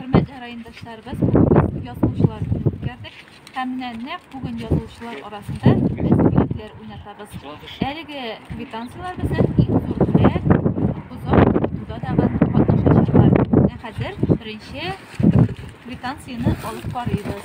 Хөрмәтле райондашларыбыз, бүгенбез язылучылар көне үткәрдек. Һәм менә нәкъ бүген язылучылар арасында без бүләкләр уйнатабыз. Әлеге квитанцияләр безнең иң зур бүләк, озак укытуда тагын катнашачаклар. Менә хәзер беренче квитанцияне алып карыйбыз.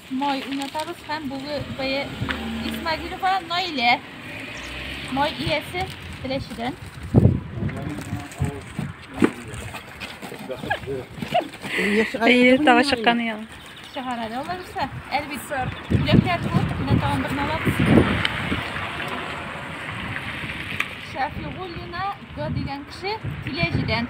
Май уйнатабыз һәм бүге бәя Исмагилова Наилә. Май иясе Теләчедән. Әйе, тагы чыкканы яңа. Чыгара да алар исә. Әлбисә, бүләкләр күп, менә тагын берне алабыз. Шәфигуллина Г дигән кеше Теләчедән.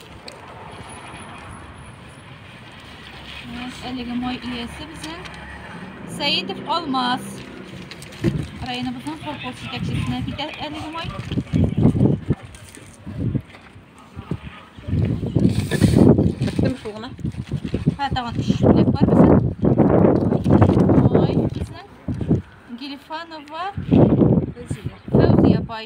Әлеге май иясе безне Сәйдов Алмаз районыбызның колхоз җитәкчесенә китә әлеге май. Беттем шул гына. Һә, тагын өч бүләк бар безнең. Ой, безнең Гелифанова Фәүзия апай.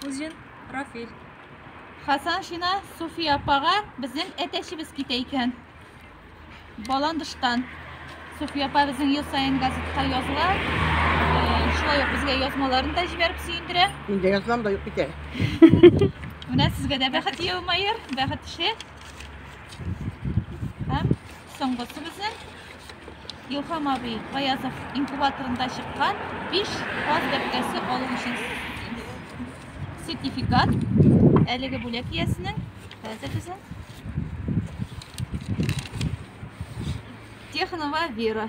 Кузин Рафиль. Хасан Шина Суфия апага безнең әтәчебез китә икән. Баландыштан. Суфия апа безнең ел саен газетка языла. Э, шулай ук безгә язмаларын да җибәреп сөендерә. Инде язмам да юк бит әле. Менә сезгә дә бәхет елмаер, бәхет эше. Һәм Соңгысы безнең Илһам абый Баязов инкубаторында чыккан 5 каз бәбкәсе алу өчен сертификат. Әлеге бүләк иясенең хәзер безнең Технова Вера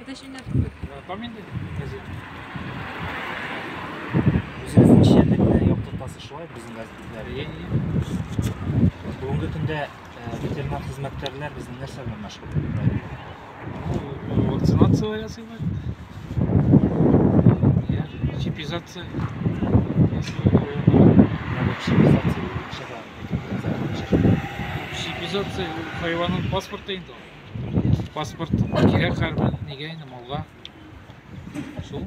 Это еще не открыто. Память газет. Үзебезнең чирлек юк тотасы шулай безнең газетләре. Бүгенге көндә ветеринар хезмәткәрләр безнең нәрсә белән мәшгуль? Вакцинация ясыйлар. Чипизация. Чипизация хайванның паспорты инде. Паспорт кирәк хәрбер, нигә инде малга? Шул.